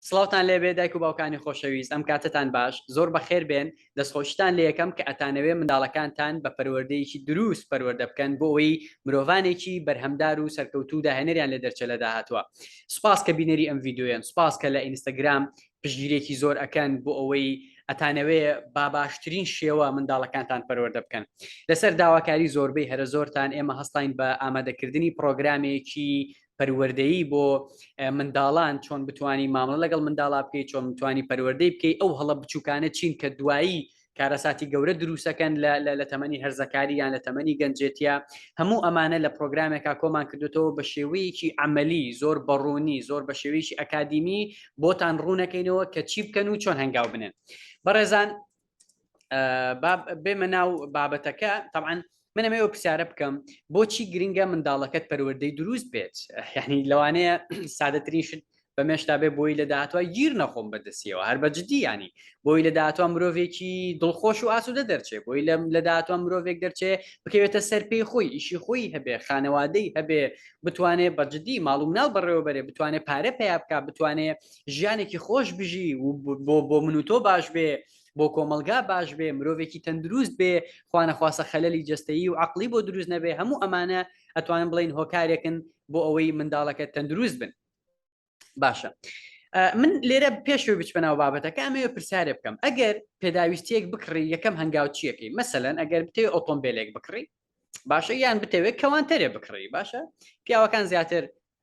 سڵاوتان لێبێ دایک و باوکانی خۆشەویست ئەم کاتەتان باش زۆر بەخێر بێن دەستخۆشیتان لێ یەکەم کە ئەتانەوێ منداڵەکانتان بە پەروەردەیەکی دروست پەروەردە بکەن بۆ ئەوەی مرۆڤانێکی بەرهەمدار و سەرکەوتوو داهێنەریان لێ دەرچە لە داهاتوە سوپاس کە بینەری ئەم ڤیددیویان سوپاس کە لە ئینستاگرام پشگیرێکی زۆر ئەکەن بۆ ئەوەی ئەتانەوێ با باشترین شێوە منداڵەکانتان پەروەردە بکەن لەسەر داواکاری زۆربەی هەرە زۆرتان ئێمە هەستاین بە ئامادەکردنی پرۆگرامێکی پەروەردەیی بۆ منداڵان چۆن بتانی مامەڵە لەگەڵ منداڵا بکەیت چۆن بتانی پەروەردەی بکەیت ئەو هەڵە بچووکانە چین کە دوایی کارەساتی گەورە دروستەکەن لە تەمەنی هەرزەکاری یان لە تەمەنی گەنجێتە هەموو ئەمانە لە پرۆگرامێکا کۆمان کردوێتەوە بە شێوەیەکی ئەمەلی زۆر بەڕوونی زۆر بە شێوەیەکی ئەکادیمی بۆتان ڕوونەکەینەوە کە چی بکەن و چۆن هەنگاو بنێن بەڕێزان بێمە ناو بابەتەکە تاعاان من ئەمەوە پرسیارە بکەم بۆچی گرنگە منداڵەکەت پەروەردەی دروست بێت یعنی لەوانەیە سادەترین شت بە مێشتا بێ بۆی لە داهاتوە گیر نەخۆم بەدەستیەوە هەر بەجددی ینی بۆی لە داهاتوە مرۆڤێکی دڵخۆش و ئاسوودە دەرچێ بۆی لەم لە داهاتوە مرۆڤێک دەرچێ بکەوێتە سەر پێی خۆی ئیشی خۆی هەبێ خانەوادەی هەبێ بتوانێ بەجددی ماڵوم ناو بەڕێوەبەرێ بتوانێت پارە پیا بک بتوانێت ژیانێکی خۆش بژی و بۆ من و تۆ باش بێ بۆ کۆمەلگا باش بێ مرۆڤێکی تەندروست بێ خوانەخواسە خەلەلی جستەیی و عقلی بۆ دروست نەبێ هەموو ئەمانە ئەتوانن بڵین هۆکارێکن بۆ ئەوەی منداڵەکە تەندروست بن باشە من لێرە پێشوی بچبنەوە بابەتەکە ئەمەوە پرسیارێ بکەم ئەگەر پێداویستیەک بکڕی یەکەم هەنگاو چیەکەی مەسەەن ئەگەر بتێ ئۆتۆمبیلێک بکڕی باشە یان بتەوێت کەوانتەرێ بکڕی باشە پیاوەکان زیاتر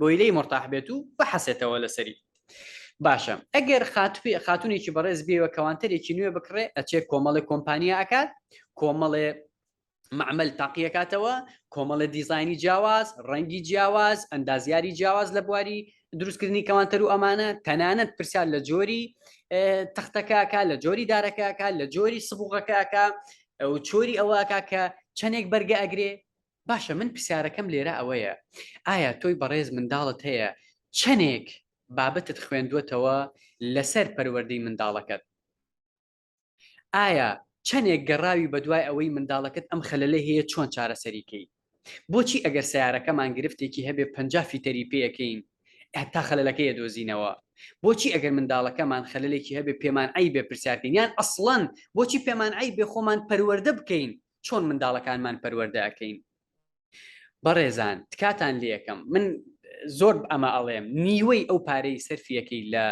بۆی لێی مورتاح بێت و بحەسێتەوە لەسەری باشە ئەگەر خاتوی خاتونێکی بەڕێز بێوە کەوانتەرێکی نوێ بکڕێ ئەچێ کۆمەڵی کۆمپانیا ئەکات کۆمەڵێ معمل تاقیەکاتەوە کۆمەڵە دیزانی جیاواز ڕەنگی جیاواز ئەندازیاری جیاواز لە بواری دروستکردنی کەوانتەر و ئەمانە تەنانەت پرسیار لە جۆری تەختەکەکە لە جۆری دارەکەکە لە جۆری سبوغەکەکە چۆری ئەوەکە کە چەندێک بەرگە ئەگرێ باشە من پرسیارەکەم لێرە ئەوەیە ئایا تۆی بەڕێز منداڵت هەیە چەنێک بابەتت خوێندوەتەوە لەسەر پەروەردەی منداڵەکەت ئایا چەنێک گەڕاوی بەدوای ئەوەی منداڵەکەت ئەم خەلەلەی هەیە چۆن چارەسەریکەی بۆچی ئەگەر سیارەکەمان گرفتێکی هەبێ پ فیتەری پێەکەین تا خەلەکەیە دۆزینەوە بۆچی ئەگەر منداڵەکەمان خەلێکی هەبێ پێمان ئەی بێ پرسیارکەین یان ئەسڵەن بۆچی پێمان ئەی بێ خۆمان پەروەەردە بکەین چۆن منداڵەکانمان پەروەردە ئەکەین بەڕێزان تکاتان لەکەم من زۆر ئەمە ئەڵێم نیوەی ئەو پارەی سەرفیەکەی لە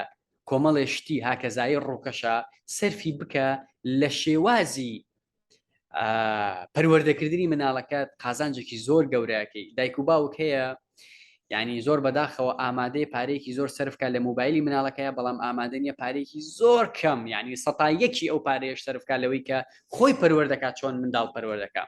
کۆمەڵێ شتی هاکەزایی ڕووکەشە سەرفی بکە لە شێوازی پەروەردەکردنی مناڵەکەت قازانجێکی زۆر گەورەکەی دایک و باوک هەیە یعنی زۆر بەداخەوە ئامادەی پارێکی زۆر سرفکە لە موبایلی مناڵەکەی بەڵام ئامادەنیە پارێکی زۆر کەم یعنی سەتا یەکی ئەو پارێش سرفکە لەوەی کە خۆی پەروەەر دەکات چۆن منداڵ پەروەەر دەکە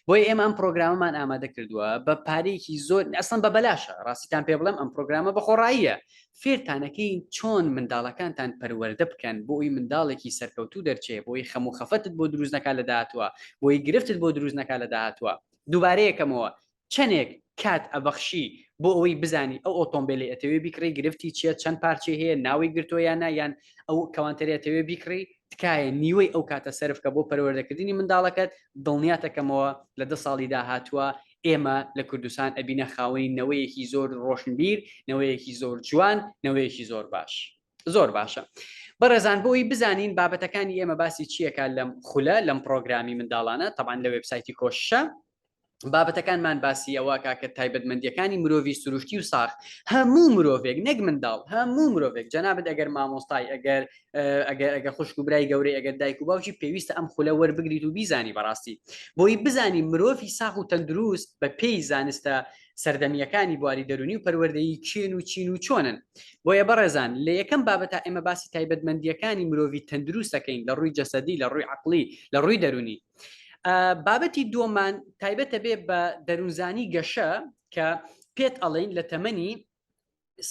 بۆی ئێمە ئەم پرۆگرامەمان ئامادە کردووە بە پارێکی زۆر ئەسن بە بەلاشە ڕاستیتان پێ بڵم ئەم پرۆگرامە بەخۆڕاییە فێرتانەکەی چۆن منداڵەکانتان پەروەەردە بکەن بۆی منداڵێکی سەرکەوتوو دەرچێ بۆی خەم و خەفەتت بۆ دروستنەکە لە داهاتوە بۆی گرفتت بۆ دروستنەکە لە داهاتوە دووبارەیەکەمەوە چەنێک کات ئەبەخشی بۆ ئەوەی بزانی ئەو ئۆتۆمبیلی ئەتەوێ بیکڕی گرفتی چیە چەند پارچی هەیە ناوی گرتۆ یان نایان ئەو کەوانتەرێتەوێ بیکڕی تکایە نیوەی ئەو کاتە سرفکە بۆ پەروەردەکردنی منداڵەکەت دڵنیاتەکەمەوە لە دە ساڵی داهاتووە ئێمە لە کوردستان ئەبینە خاوەنی نەوەیەکی زۆر ڕۆشنبیر نەوەیەکی زۆر جوان نەوەیەکی زۆر باش زۆر باشە بەڕێزان بۆی بزانین بابەتەکانی ئێمە باسی چیەکە لەم خولە لەم پرۆگرامی منداڵانە تەبان لە وبسایتی کۆشە بابەتەکانمان باسی ئەوە کاکە تایبەتمەندیەکانی مرۆڤی سروشتی و ساخ هەموو مرۆڤێک نەک منداڵ هەموو مرۆڤێک جەنابەت ئەگەر مامۆستای ئەگەر ئەگەر ئەگە خوشک و برای گەورەی ئەگەر دایک و باوکی پێویستە ئەم خولە وەربگریت و بیزانی بەڕاستی بۆی بزانی مرۆڤی ساخ و تەندروست بە پێی زانستە سەردەمیەکانی بواری دەرونی و پەروەردەیی چێن و چین و چۆنن بۆیە بەڕێزان لە یەکەم بابەتا ئێمە باسی تایبەتمەندیەکانی مرۆڤی تەندروستەکەین لە ڕووی جەسەدی لە ڕووی عقلی لە ڕووی دەرونی بابەتی دووەمان تایبەتە بێ بە دەروونزانی گەشە کە پێت ئەڵین لە تەمەنی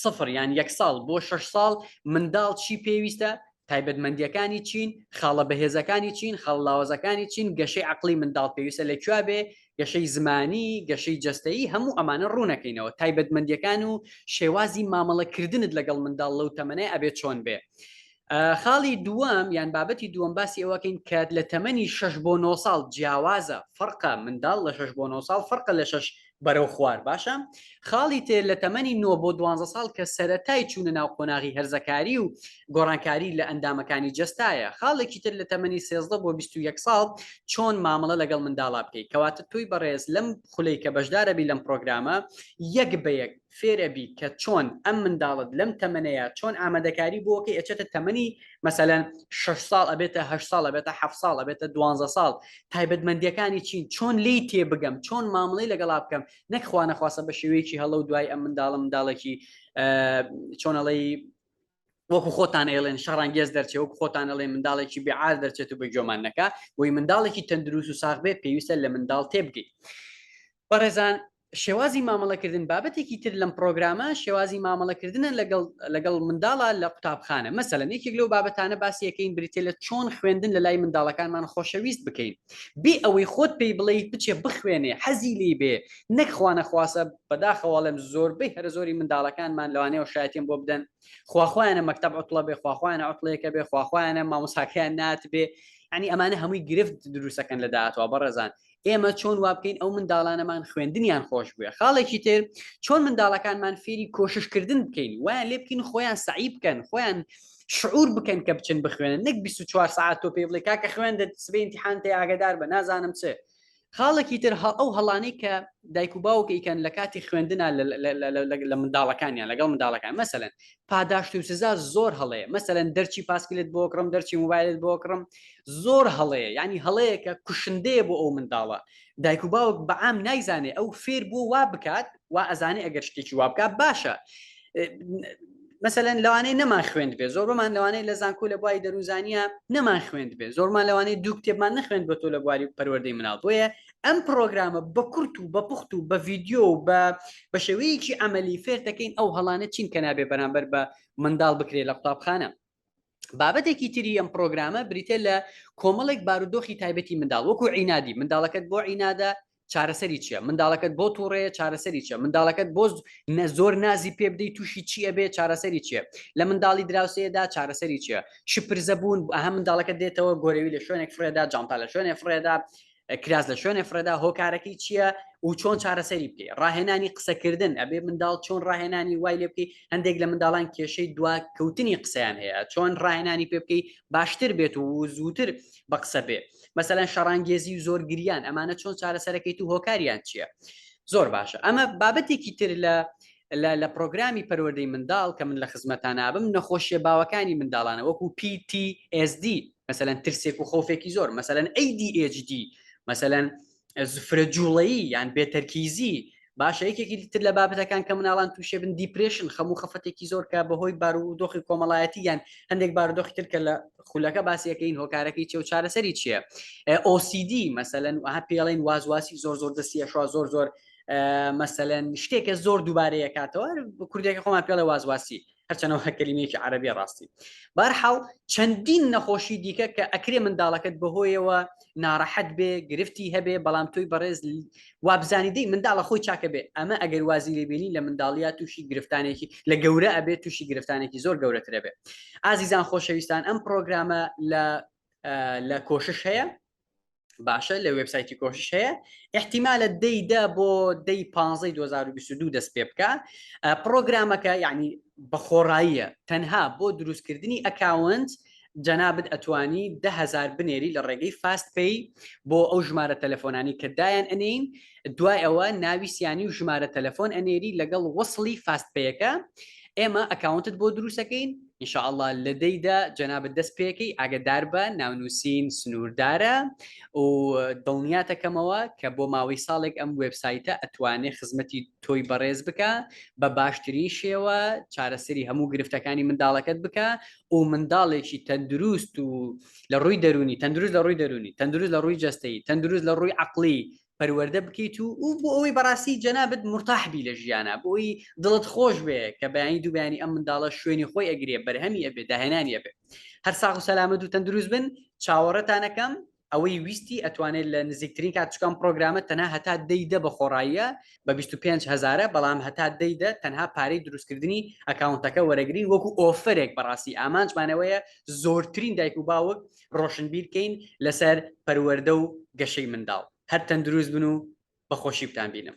سفر یان یەک ساڵ بۆ شش ساڵ منداڵ چی پێویستە تایبەتمەندیەکانی چین خاڵە بەهێزەکانی چین خەڵلاوەزەکانی چین گەشەی عقلی منداڵ پێویستە لە کوێ بێ گەشەی زمانی گەشەی جستەیی هەموو ئەمانە ڕوونەکەینەوە تایبەتمەندیەکان و شێوازی مامەڵەکردنت لەگەڵ منداڵ لەو تەمەەیە ئەبێت چۆن بێ خاڵی دووەم یان بابەتی دووەم باسی ئەوەکەین کات لە تەمەنی شش بۆ نۆ ساڵ جیاوازە فەرقە منداڵ لە شش بۆ نۆ ساڵ فەرقە لە شش بەرەو خوار باشە خاڵی تێ لە تەمەنی نۆ بۆ دوانزە ساڵ کە سەتای چوونە ناو قۆناغی هەرزەکاری و گۆڕانکاری لە ئەندامەکانی جستایە خاڵێکی تر لە تەمەنی سێزدە بۆ بیست و یەک ساڵ چۆن مامەڵە لەگەڵ منداڵا بکەیت کەواتە تۆی بەڕێز لەم خولەی کە بەشدارەبی لەم پرۆگرامە یەک بە یەک فێرئەبی کە چۆن ئەم منداڵت لەم تەمەنەیە چۆن ئامادەکاری بۆکەی ئەچێتە تەمەنی مەسەلەن شش ساڵ ئەبێتە هەشت ساڵ ئەبێتە حەف ساڵ ئەبێتە دوانزە ساڵ تایبەتمەندیەکانی چین چۆن لی تێ بگەم چۆن مامڵی لەگەڵا بکەم نەک خوانەخواسە بە شێوەیەکی هەڵە و دوای ئەم منداڵە منداڵێکی چۆنەڵی وەکو خۆتان ئێڵێن شەڕانگێز دەرچێ وەکو خۆتان ئەڵێ منداڵێکی بێعار دەرچێت و بە گۆمان نەکە وی منداڵێکی تەندروست و ساخ بێ پێویستە لە منداڵ تێبگەی بەڕێزان شێوازی مامەڵەکردن بابەتێکی تر لەم پرۆگرامە شێوازی مامەڵەکردنە لەگەڵ لەگەڵ منداڵە لە قوتابخانە مەسەلەن یەکێک لەو بابەتانە باسیەکەین بریتە لە چۆن خوێندن لە لای منداڵەکانمان خۆشەویست بکەین بێ ئەوەی خۆت پێی بڵێیت بچێ بخوێنێ حەزی لی بێ نەک خوانەخواسە بەداخەواڵێم زۆربەی هەرە زۆری منداڵەکانمان لەوانەیە شایەتیم بۆ بدەن خواخوایانە مەکتب عوتڵە بێ خواخوایانە عوتڵەیەکە بێ خواخوایانە مامۆساکەیان نات بێ ینی ئەمانە هەمووی گرفت دروستەکەن لە داهاتوە بەڕێزان ئێمە چۆن وا بکەین ئەو منداڵانەمان خوێندنیان خۆش بوێ خاڵێکی تر چۆن منداڵەکانمان فێری کۆششکردن بکەین وایان لێ بکەین خۆیان سعی بکەن خۆیان شعور بکەن کە بچن بخوێنن نەک 24 ساعت تۆ پێ بڵێ کاکە خوێن دە سبێ امتحان تێ ئاگدار بە نازانم چ خاڵێکی تر هە ئەو هەڵانەی کە دایک و باوکە ئیکەن لە کاتی خوێندنا لە منداڵەکانیان لەگەڵ منداڵەکان مەسەن پاداشت و سزا زۆر هەڵەیە مەسەن دەرچی پاسکلت بۆ کڕم دەرچی موبایلت بۆ کڕم زۆر هەڵەیە ینی هەڵەیەکە کوشندەیە بۆ ئەو منداڵە دایک و باوک بەعام نایزانێ ئەو فێر بۆ وا بکات وا ئەزانێ ئەگەر شتێکی وا بکات باشە مەسەەن لەوانەیە نەمان خوێند بێ زۆربمان لەوانەیە لە زانکۆ لە بواری دەروزانە نەمان خوێند بێ زۆرمان لەوانەیە دوو کتێبمان نەخوێند بە تۆ لە بواری پەروەردەی مناڵ بۆیە ئەم پرۆگرامە بە کورت و بە پوخت و بە ڤیددیو و بە بە شێوەیەکی ئەمەلی فێر دەکەین ئەو هەڵانە چین کە نابێ بەرامبەر بە منداڵ بکرێت لە قوتابخانە بابەتێکی تری ئەم پرۆگرامە بریتە لە کۆمەڵێک بارودۆخی تایبەتی منداڵ وەکو عینادی منداڵەکەت بۆ عینادە چارەسەری چیە منداڵەکەت بۆ تووڕەیە چارەسەری چە منداڵەکەت بۆ نە زۆر نازی پێ بدەی تووشی چیە بێ چارەسەری چیە لە منداڵی دراوسەیەدا چارەسەری چیە شپرزە بوون ئەها منداڵەکە دێتەوە گۆرەوی لە شوێنێک فرێدا جانتا لە شوێنێ فرێدا کراس لە شوێنێ فرەدا هۆکارەکەی چییە و چۆن چارەسەری بکەی ڕاهێنانی قسەکردن ئەبێ منداڵ چۆن ڕاهێنانی وای لێ بکەی هەندێک لە منداڵان کێشەی دوا کەوتنی قسەیان هەیە چۆن ڕاهێنانی پێ بکەی باشتر بێت و زووتر بە قسە بێ مەسەلەن شەڕانگێزی و زۆر گریان ئەمانە چۆن چارەسەرەکەی تو هۆکاریان چییە زۆر باشە ئەمە بابەتێکی تر لە لە لە پرۆگرامی پەروەردەی منداڵ کە من لە خزمەتانابم نەخۆشیە باوەکانی منداڵانە وەکو PTSD مەسەەن ترسێک و خۆفێکی زۆر مەسەەن ADHD مەسەەن زفرە جوڵەیی یان بێتەرکیزی باشە یەکێکی تر لە بابەتەکان کە مناڵان تووشێ بن دیپرشن خەموو خەفەتێکی زۆر کە بەهۆی بارودۆخی کۆمەڵایەتی یان هەندێک بارودۆخی تر کە لە خولەکە باسیەکەین هۆکارەکەی چێ و چارەسەری چییە ئۆسیدی مەسەەن وها پێڵین وازواسی زۆر زۆر دەستی ئەشوا زۆر زۆر مەسەەن شتێکە زۆر دووبارەیەکاتەوە کوردێکی خۆمان پێڵێ وازواسی هەرچەنەوە هەکەلیمێکی عربی ڕاستی بارحاڵ چەندین نەخۆشی دیکە کە ئەکرێ منداڵەکەت بەهۆیەوە ناڕەحەت بێ گرفتی هەبێ بەڵام تۆی بەڕێز وابزانی دەی منداڵە خۆی چاکە بێ ئەمە ئەگەر وازی لێبینی لە منداڵیا تووشی گرفتانێکی لە گەورە ئەبێت تووشی گرفتانێکی زۆر گەورەترە بێ ئازیزان خۆشەویستان ئەم پرۆگرامە لە لە کۆشش هەیە باشە لە وبسایتی کۆشش هەیە احتیمالە دەیدا بۆ دەی پ 2022 دەست پێ بکە پرۆگرامەکە یعنی بە خۆڕاییە تەنها بۆ دروستکردنی ئەکاونت جەنابەت ئەتوانی دههزار بنێری لە ڕێگەی فاست پێی بۆ ئەو ژمارە تەلەفۆنانی کە دایان ئەنین دوای ئەوە ناوی سیانی و ژمارە تەلەفۆن ئەنێری لەگەڵ وەصلی فاست پێیەکە ئێمە ئەکاونتت بۆ دروستەکەین ان شاء اللە لە دەی دا جەنابت دەست پێکەی ئاگەدار بە ناونووسین سنووردارە و دڵنیاتەکەمەوە کە بۆ ماوەی ساڵێک ئەم وێبسایتە ئەتوانێ خزمەتی تۆی بەڕێز بکە بە باشترین شێوە چارەسەری هەموو گرفتەکانی منداڵەکەت بکە و منداڵێکی تەندروست و لە ڕووی دەرونی تەندروست لە ڕووی دەرونی تەندروست لە ڕووی جەستەی تەندروست لە ڕووی عقلی پەروەردە بکەیت و و بۆ ئەوەی بەڕاستی جەنابت مرتاح بی لە ژیانە بۆی دڵت خۆش بێ کە بەیانی دوو بەیانی ئەم منداڵە شوێنی خۆی ئەگرێ بەرهەمی ئەبێ داهێنانی ئەبێ هەر ساغ و سەلامەت و تەندروست بن چاوەڕێتانەکەم ئەوەی ویستی ئەتوانێت لە نزیکترین کاتچکان پرۆگرامە تەنها هەتا دەیدە بە خۆڕاییە بە 25 هزارە بەڵام هەتا دەیدە تەنها پارەی دروستکردنی ئەکاونتەکە وەرەگرین وەکو ئۆفرێک بەڕاستی ئامانجمانەوەیە زۆرترین دایک و باوک ڕۆشنبیر کەین لەسەر پەروەردە و گەشەی منداڵ هەر تەندروست بن و بەخۆشی بتان بینم.